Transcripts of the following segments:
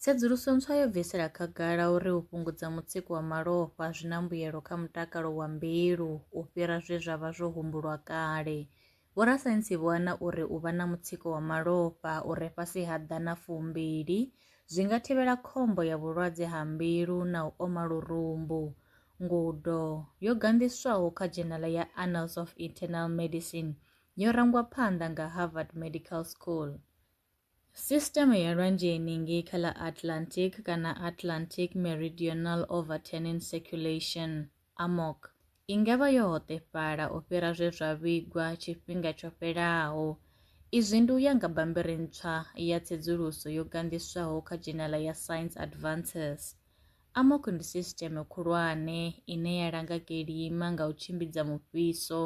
Tsedzuluso ntswa yo bvisela khagala uri u fhungudza mutsiko wa malofha zwi na mbuyelo kha mutakalo wa mbilu u fhira zwe zwa vha zwo humbulwa kale. Vhorasaintsi vho ana uri u vha na mutsiko wa malofha u re fhasi ha ḓana fumbili zwi nga thivhela khombo ya vhulwadze ha mbilu na u oma lurumbu. Ngudo yo ganḓiswaho kha dzhenala ya Annals of Internal Medicine yo rangwa phanḓa nga Harvard Medical School. Sisiteme ya lwanzheni ngei kha ḽa Atlantic kana Atlantic Meridional Overturning Circulation, AMOC, i nga vha yo hoṱefhala u fhira zwe zwa vhigwa tshifhinga tsho fhelaho. Izwi ndi u ya nga bammbiri ntswa ya tsedzuluso yo ganḓiswaho kha dzhenala ya Science Advances. AMOC ndi sisiteme khulwane ine ya langa kilima nga u tshimbidza mufhiso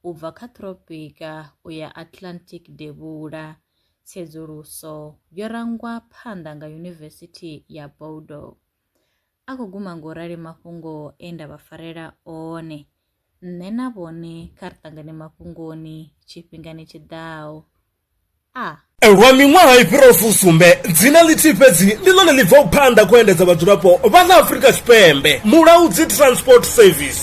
u bva kha thropika u ya Atlantic devhula. tsedzuluso yo rangwa phanḓa nga Yunivesithi ya Bordeaux. A khou guma ngo rali mafhungo e nda vha farela one, nṋe na vhone kha ri ṱangane mafhungoni tshifhingani tshi ḓaho. A. Lwa miṅwaha i fhiraho fusumbe, dzina ḽithihi fhedzi ndi ḽone ḽi bvaho phanḓa kha u endedza vhadzulapo vha ḽa Afrika Tshipembe, Mulaudzi Transport Service.